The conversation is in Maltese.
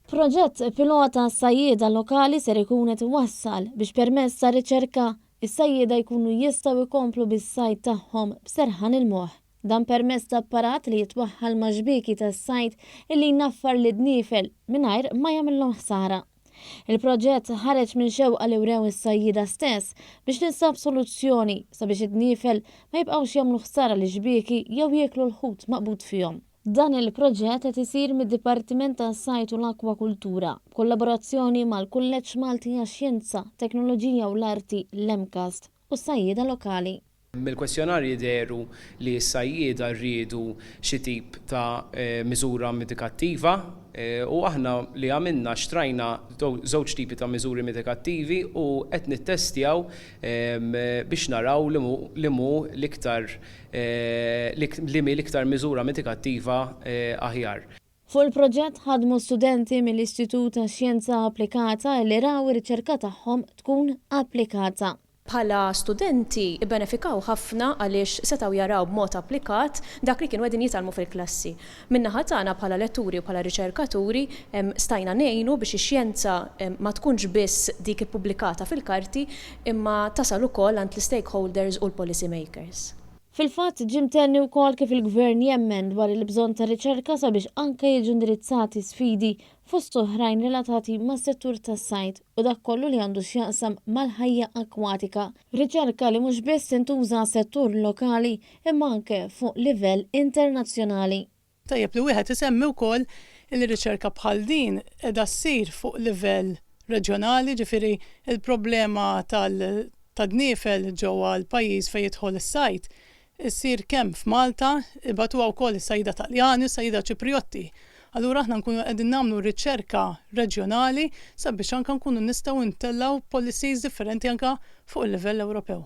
Proġett pilota għas-sajjieda lokali ser ikun qed iwassal biex permezz ta' riċerka, is-sajjieda jkunu jistgħu jkomplu bis-sajd tagħhom b'serħan il-moħħ. Dan permezz ta' apparat li jitwaħħal ma' xbieki tas-sajd illi jnaffar lid-dniefel mingħajr ma jagħmilhom ħsara. Il-proġett ħareġ minn xewqa li wrew is-sajjieda stess biex tinstab soluzzjoni sabiex id-dniefel ma jibqgħux jagħmlu ħsara lix-xbieki jew jieklu l-ħut maqbud fihom. Dan il-proġett qed isir mid-Dipartiment tas-Sajd u l-Akkwakultura, b'kollaborazzjoni mal-Kulleġġ Malti għax-Xjenza, Teknoloġija u l-Arti, l-MCAST, u s-sajjieda lokali. Mill-kwestjonarji dehru li s-sajjieda riedu xi tip ta' miżura mitikattiva u aħna li għamilna xtrajna żewġ tipi ta' miżuri mitikattivi u qed nittestjaw biex naraw li mu l-iktar liema l-iktar miżura mitikattiva aħjar. Fuq il-proġett ħadmu studenti mill-Istitut tax-Xjenza Applikata li raw ir-riċerka tagħhom tkun applikata. Bħala studenti bbenefikaw ħafna għaliex setgħu jaraw b'mod applikat dak li kienu qegħdin jitgħallmu fil-klassi. Min-naħa tagħna bħala letturi u bħala riċerkaturi stajna ngħinu biex ix-xjenza ma tkunx biss dik ippubblikata fil-karti imma tasal ukoll għand l-istakeholders u l-policy makers. Fil-fatt, ġie mtenni wkoll kif il-Gvern jemmen dwar il-bżonn ta' riċerka sabiex anke jiġu indirizzati sfidi fost oħrajn relatati mas-settur tas-sajd u dak kollu li għandu x'jaqsam mal-ħajja akkwatika, riċerka li mhux biss tintuża għas-settur lokali imma anke fuq livell internazzjonali. Tajjeb li wieħed isemmi wkoll li riċerka bħal din qiegħda ssir fuq livell reġjonali, ġifieri l-problema tal-tadniefel ġewwa l-pajjiż fejn jidħol is-sajd issir kemm f'Malta, ibagħtuha wkoll is-sajjieda Taljani u s-sajjieda Ċiprijotti. Allura aħna nkunu qegħdin nagħmlu riċerka reġjonali sabiex anke nkunu nistgħu ntellgħu policies differenti anke fuq il-livell Ewropew.